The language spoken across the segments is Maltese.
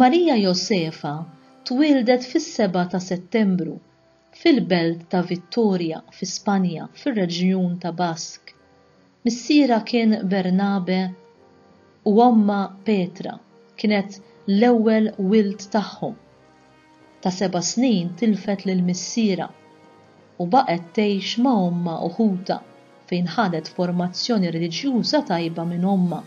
Maria Josefa twieldet fis-seba' ta' Settembru fil-belt ta' Vittoria fi Spanja fir-reġjun ta' Basque. Missierha kien Bernabe u ommha Petra kienet l-ewwel wild tagħhom. Ta' seba' snin tilfet lil missierha u baqgħet tgħix ma' ommha u ħutha fejn ħadet formazzjoni reliġjuża tajba minn ommha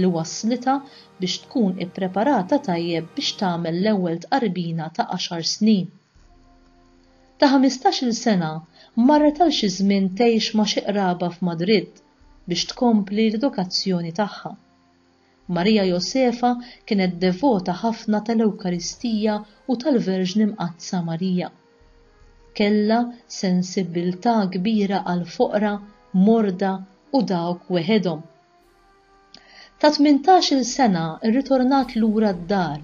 li wasslitha biex tkun ippreparata tajjeb biex tagħmel l-ewwel tqarbina ta' għaxar snin. Ta' ħmistax-il sena marret għal xi żmien tgħix ma' xi qraba f'Madrid biex tkompli l-edukazzjoni tagħha. Marija Josefa kienet devota ħafna tal-Ewkaristija u tal-Verġni Mqaddsa Marija. Kellha sensibbiltà kbira għall-foqra, morda, u dawk weħedhom. Ta' tmintax-il sena rritornat lura d-dar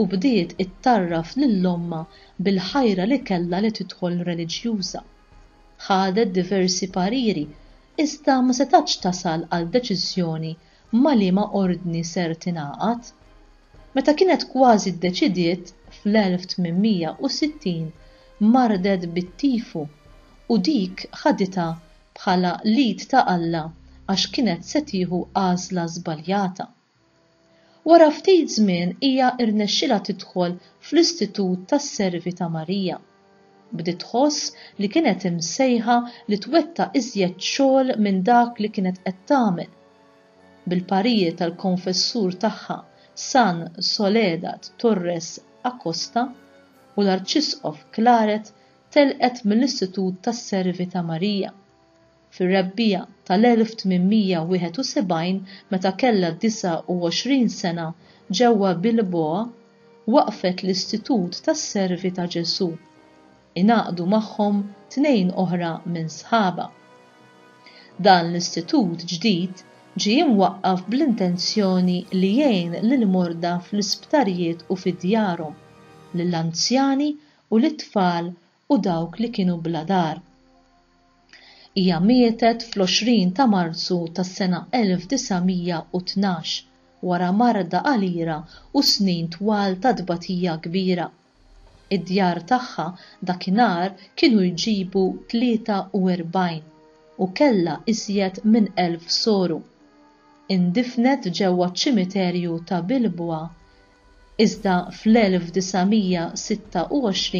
u bdiet ittarraf lil ommha bil-ħajra li kellha li tidħol reliġjuża. Ħadet diversi pariri iżda ma setgħetx tasal għal deċiżjoni ma' liema ordni ser tingħaqad, meta kienet kważi ddeċidiet fl-1860 mardet bit-tifu u dik ħaditha bħala l-id ta' Alla għax kienet se tieħu għażla żbaljata. Wara ftit żmien hija rnexxilha tidħol fl-Istitut tas-Servi ta' Marija. Bdiet tħoss li kienet imsejħa li twettaq iżjed xogħol minn dak li kienet qed tagħmel. Bil-parijiet tal-konfessur tagħha San Soledad Torres Acosta u l-Arċisqof Claret telqet mill-Istitut tas-Servi ta' Marija. Fir-Rebbiegħa tal-1871, meta kellha 29 sena, ġewwa Bilboa, waqqfet l-Istitut tas-Servi ta' Ġesù. Ingħaqdu magħhom tnejn oħra minn sħabha. Dan l-istitut ġdid ġie imwaqqaf bl-intenzjoni li jgħin lill-morda fl-isptarijiet u fi djarhom, lill-anzjani u lit-tfal u dawk li kienu bla dar. Hija mietet fl-20 ta' Marzu tas-sena 1912 wara marda qalila u snin twal ta' tbatija kbira. Id-djar tagħha dakinhar kienu jġibu 43 u kellha iżjed minn elf soru. Indifnet ġewwa ċ-ċimiterju ta' Bilbwa Iżda fl-1926,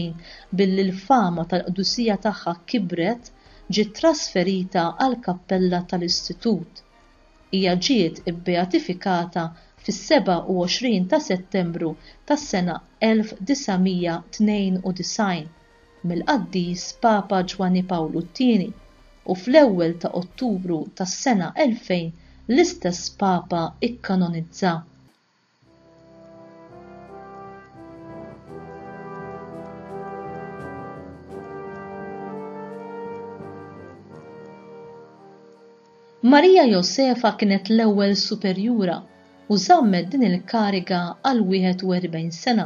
billi l-fama tal-qdusija tagħha kibret, ġiet trasferita għall-kappella tal-Istitut. Hija ġiet ibbeatifikata fis-27 ta' Settembru tas-sena 1992 mill-Qaddis Papa Ġwanni Pawlu t-Tieni u fl-ewwel ta' Ottubru tas-sena 2000 l-istess Papa ikkanonizza Marija Josefa kienet l-ewwel superjura u żammet din il-kariga għal 41 sena.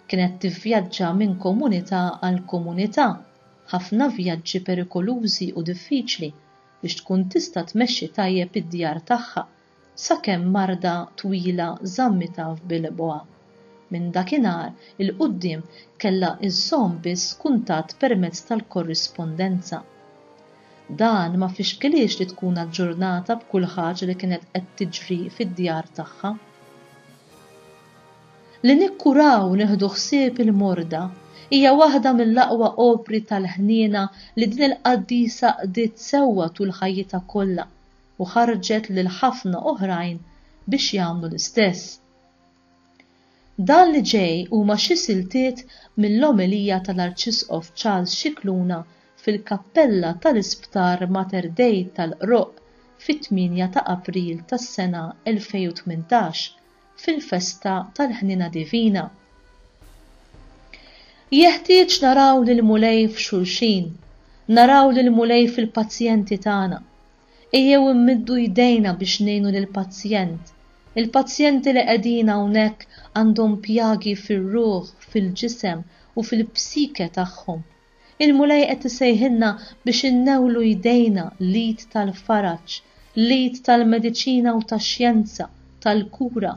Kienet tivvjaġġa minn komunità għal komunità, ħafna vjaġġi perikolużi u diffiċli biex tkun tista' tmexxi tajjeb id-djar tagħha sakemm marda twila żammitha f'bilebgħa. Minn dakinhar 'il quddiem kellha żżomm biss kuntatt permezz tal-korrispondenza. Dan ma fixkilhiex li tkun aġġurnata b'kull ħaġa li kienet qed tiġri fid-djar tagħha. Li nikkuraw u nieħdu ħsieb il-morda hija waħda mill-aqwa opri tal-ħniena li din il-qaddisa qdiet sewwa tul ħajjitha kollha, u ħarrġet lil ħafna oħrajn biex jagħmlu l-istess. Dan li ġej huma xi siltiet mill-omelija tal-Arċisqof Charles Scicluna fil-kappella tal-Isptar Mater Dei tal-Qroqq fit-tmienja ta' April tas-sena 2018 fil-festa tal-Ħniena Divina. Jeħtieġ naraw lill-Mulej f'xulxin, naraw lill-Mulej fil-pazjenti tagħna. Ejjew immiddu jdejna biex ngħinu lill-pazjent. Il-pazjenti li qegħdin hawnhekk għandhom pjagi fir-ruħ, fil-ġisem u fil-psike tagħhom. Il-Mulej qed isejħilna biex innewlu jdejna, l-id tal-faraġ, l-id tal-mediċina u tax-xjenza, tal-kura,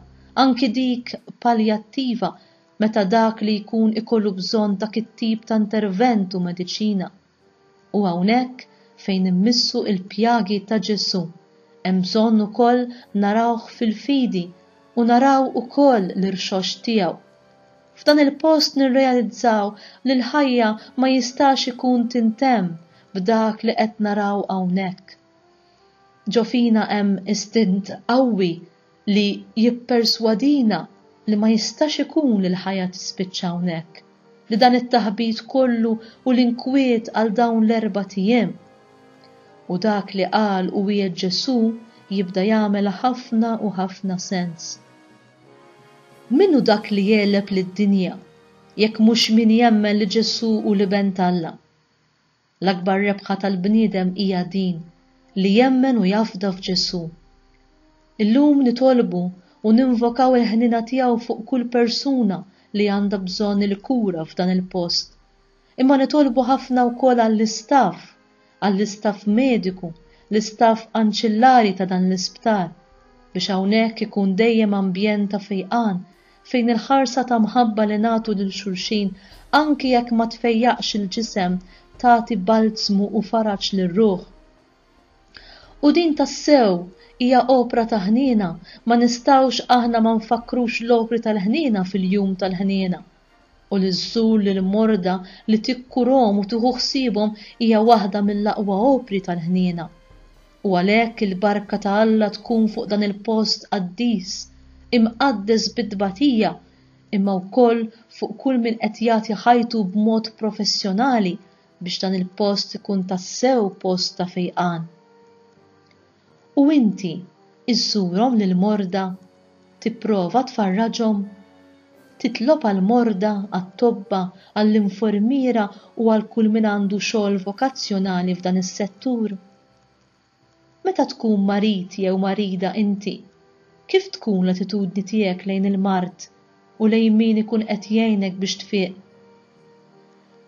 anki dik paljattiva, meta dak li jkun ikollu bżonn dak it-tip ta' intervent u mediċina. U hawnhekk fejn immissu il-pjagi ta' Ġesù, hemm bżonn ukoll narawh fil-fidi u naraw ukoll l-irxoxt tiegħu. F'dan il-post nirrealizzaw li l-ħajja ma jistax ikun tintemm b'dak li qed naraw hawnhekk. Ġo fina hemm istint qawwi li jipperswadina li ma jistax ikun li l-ħajja tispiċċa hawnhekk, li dan it-taħbit kollu u l-inkwiet għal dawn l-erbat ijiem. U dak li qal u wiegħed Ġesù jibda jagħmel ħafna u ħafna sens. Min hu dak li jegħleb lid-dinja, jekk mhux min jemmen li Ġesù hu l-Iben t'Alla? L-akbar rebħa tal-bniedem hija din, li jemmen u jafda f'Ġesù. Illum nitolbu u ninvokaw il-ħniena tiegħu fuq kull persuna li għandha bżonn il-kura f'dan il-post. Imma nitolbu ħafna wkoll għall-istaff, għall-istaff mediku, l-istaff anċillari ta' dan l-isptar, biex hawnhekk ikun dejjem ambjent ta' fejqan fejn il-ħarsa ta' mħabba li nagħtu lil xulxin anki jekk ma tfejjaqx il-ġisem tagħti balzmu u faraġ lir-ruħ. U din tassew hija opra ta' ħniena, ma nistgħux aħna ma nfakkrux l-opri tal-ħniena fil-Jum tal-Ħniena. u li żżur lill-morda, li tikkurhom u tieħu ħsiebhom hija waħda mill-aqwa opri tal-ħniena. U għalhekk il-barka ta' Alla tkun fuq dan il-post qaddis, imqaddes bit-tbatija, imma wkoll fuq kull min qed jagħti ħajtu b'mod professjonali biex dan il-post ikun tassew post ta' fejqan. U inti żżurhom lill-morda? Tipprova tfarraġhom? Titlob għall-morda, għat-tobba, għall-infermiera u għal kull min għandu xogħol vokazzjonali f'dan is-settur? Meta tkun marid jew marida inti, kif tkun l-attitudni tiegħek lejn il-mard u lejn min ikun qed jgħinek biex tfieq.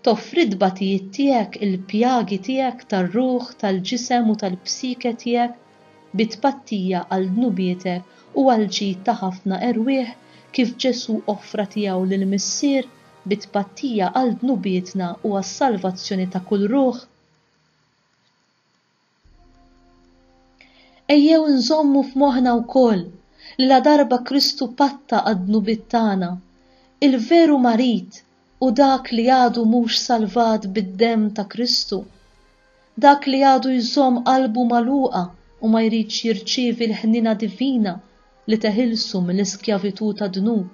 Toffri t-tbatijiet tiegħek, il-pjagi tiegħek tar-ruħ, tal-ġisem u tal-psike tiegħek bi tpattija għal dnubietek u għall-ġid ta' ħafna erwieħ kif Ġesù offra tiegħu lill-Missier bi tpattija għal dnubietna u għas-salvazzjoni ta' kull ruħ. Ejjew inżommu f'moħħna wkoll li ladarba Kristu patta għad-dnubiet tagħna, il-veru marid hu dak li għadu mhux salvat bid-demm ta' Kristu, dak li għadu jżomm qalbu magħluqa u ma jridx jirċievi l-ħniena divina li teħilsu mill-iskjavitù tad-dnub,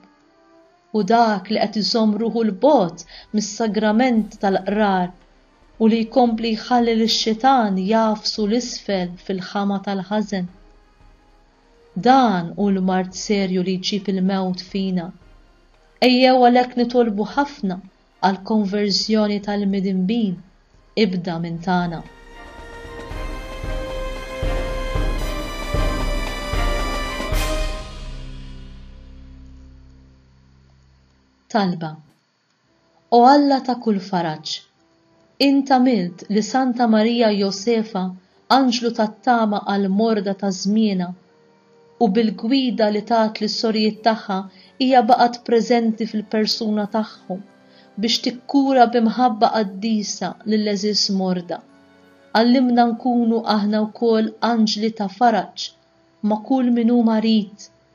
hu dak li qed iżomm ruħu 'l bogħod mis-sagrament tal-Qrar u li jkompli jħalli lix-xitan jagħfsu 'l isfel fil-ħama tal-ħażen. Dan hu l-mard serju li jġib il-mewt fina. Ejjew għalhekk nitolbu ħafna għall-konverżjoni tal-midinbin, ibda minn tagħna. Talba O Alla ta' kull faraġ! Int għamilt li Santa Marija Josefa anġlu tat-tama għall-morda ta' żmienha, u bil-gwida li tat lis-sorijiet tagħha hija baqgħet preżenti fil-persuna tagħhom biex tikkura bi mħabba qaddisa lill-għeżież morda. Għallimna nkunu aħna wkoll anġli ta' faraġ ma' kull min hu marid,